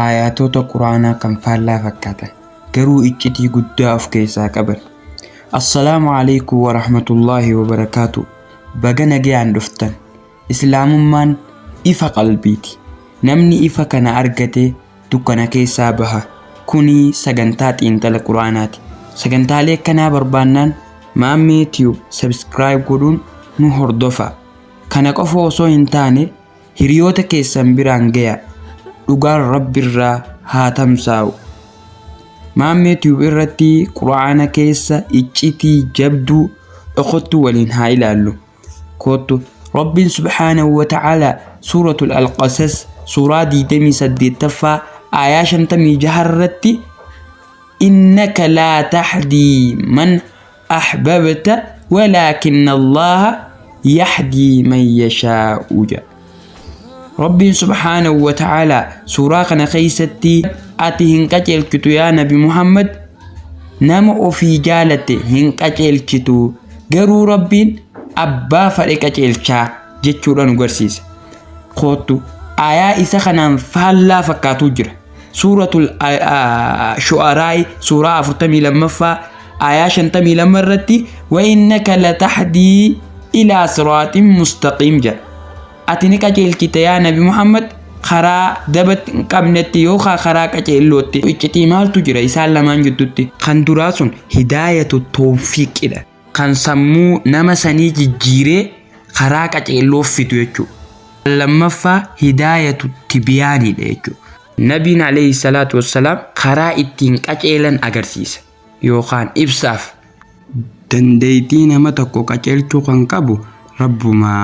aayaatoota quraanaa kan faallaa fakkaatan garuu iccitii guddaa of keessaa qaban assalaamu alaikum warahmatullaahi wabarakaatu baga nagayaan dhuftan islaamummaan ifa qalbiiti namni ifa kana argate dukkana keessaa baha kunii sagantaa xiinxala quraanaati sagantaalee akkanaa barbaannaan maammee tiyuub sabiskiraayib godhuun nu hordofaa kana qofa osoo hin taane Hiriyoota keessan biraan gayaa. Dhugaan Rabbirraa haa tamsaa'u. Maammee Tube irratti Qur'aana keessa iccitii jabduu dhokottuu waliin haa ilaallu. Koottu Rabbiin Subhaanahu wa Ta'aala Suuratul Al-Qasas suuraa 28ffaa aayaa 56 irratti innaka laa tahdii man ahbabta walaakinna Allaaha yahdii man yashaa'u jedha. Rabbiin subhaanahu wa ta'aalaa suuraa kana keessatti ati hin qajeelchitu yaa nabi Muhammad nama ofii jaalatte hin qajeelchitu garuu Rabbiin abbaa fadhe qajeelchaa jechuudha nu garsiisa. Koottu ayaa isa kanaan faallaa fakkaatu jira. suuratul shu'araay suuraa 42ffaa aayaa 52 irratti wa innaka latahdii ilaa siraaxin mustaqiim jedha ati ni qajeelchita yaa nabi muhammad karaa dabatti hin qabnetti yookaan karaa qajeellootti iccitii maaltu jira isaan lamaan jidduutti kan duraa sun hidaayatu toofiiqidha kan sammuu nama sanii jijjiiree karaa qaceelloof fidu jechuudha. Kan lammaffaa hidaayatu tibiyaaniidha jechuudha. Nabiin alayhi salaatu wassalaam karaa ittiin qaceelan agarsiisa yookaan ibsaaf. Dandeeytii nama tokko qaceelchuu kan qabu Rabbuma.